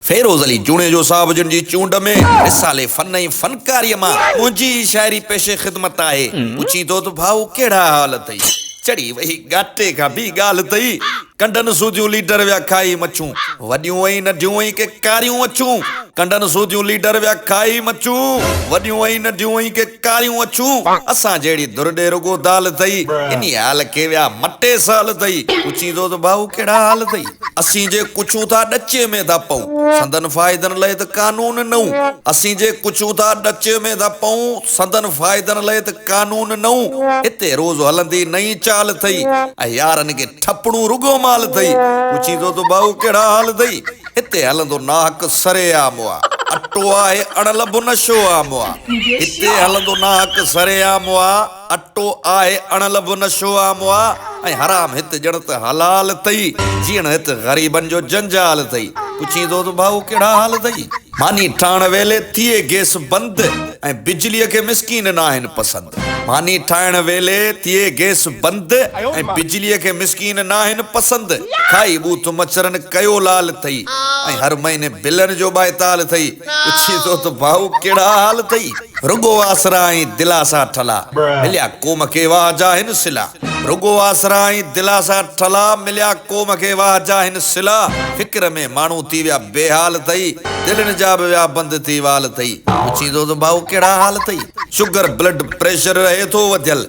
فيروز علي جوڻيجو صاحب جن جي چونڊ ۾ رسالي فن ۽ فنڪاريء مان منهنجي ئي شاعري پيش خدمت آهي. پڇين ٿو ته ڀائو ڪهڙا حال اٿئي؟ چڙهي ويهي گاٽي کان ٻي ڳالهه اٿئي؟ ڪنڊن سوڌيون ليڊر ويا کائي مڇون، وڏيون ۽ ننڍيون ۽ ڪي ڪاريون اڇون، ڪنڊن سوڌيون ليڊر ويا کائي مڇون، وڏيون ۽ ننڍيون ۽ ڪي. ڪاريون اڇون اسان جهڙي ڌر ڏي رڳو دال اٿئي انهي حال کي ويا مٽي سال اٿئي پڇيندو ته ڀائو ڪهڙا حال اٿئي اسين جي ڪڇون ٿا ڏچي ۾ ٿا پئون سندن فائدن لئي ته قانون نئون اسين جي ڪڇون ٿا ڏچي ۾ ٿا پئون سندن فائدن لئي ته قانون نئون اتي روز هلندي نئين چال اٿئي ۽ يارن کي ٺپڻو رڳو مال اٿئي پڇيندو ته ڀائو ڪهڙا حال اٿئي. هتي هلندو ناحق سري عام آ اٽو آهي اڙل به نشو عام آ هتي هلندو ناحق سري عام آ اٽو آهي اڙل به نشو عام آ ۽ حرام هت ڄڻ ته حلال اٿئي جيئڻ هت غريبن جو جنجال اٿئي پڇيندو ته ڀائو ڪهڙا حال اٿئي. ماني ٺاهڻ ويلي ٿئي گيس بند ۽ بجليء کي مسڪين ناهن پسند. ماني ٺاهڻ ويلي ٿئي گئس بند ۽ بجليء کي مسڪين ناهن پسند کائي ٻوٿ مڇرن ڪيو لال اٿئي ۽ هر مهيني بلن جو ٻائتال اٿئي پڇي ٿو ته ڀائو ڪهڙا حال اٿئي رڳو آسرا ۽ دلاسا ٺلا مليا قوم کي واهه جا هن صلا رڳو آسرا ۽ دلاسا ٺلا مليا قوم کي واهه جا هن صلا فڪر ۾ ماڻهو ٿي ويا بي حال اٿئي دلن جا به ويا بند ٿي وال اٿئي پڇي ٿو ته ڀائو ڪهڙا حال اٿئي. شگر بلڊ پريشر رهي ٿو وڌيل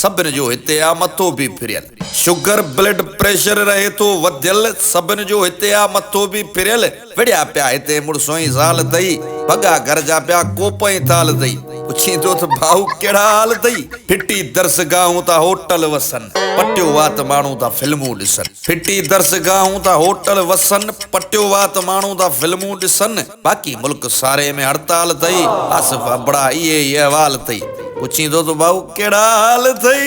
سڀن جو هتي آ مٿو به ڦريل شگر بلڊ پريشر رهي ٿو وڌيل سڀن جو هتي آ مٿو به ڦريل وڙهيا پيا هتي مڙس ۽ زال اٿئي ڀڳا گهر جا پيا ڪوپ ۽ ٿال اٿئي پڇين ٿو ته ڀائو ڪهڙا حال اٿئي ڦٽي درس گاهون ٿا هوٽل وسن پٽيو وات ماڻهو ٿا فلمون ڏسن ڦٽي درس گاهون ٿا هوٽل وسن پٽيو وات ماڻهو ٿا فلمون ڏسن. باقي ملڪ ساري ۾ هڙتال ٿئي. آصف ابڙا اهي ئي احوال ٿئي. پڇين ٿو ته ڀائو ڪهڙا حال ٿئي.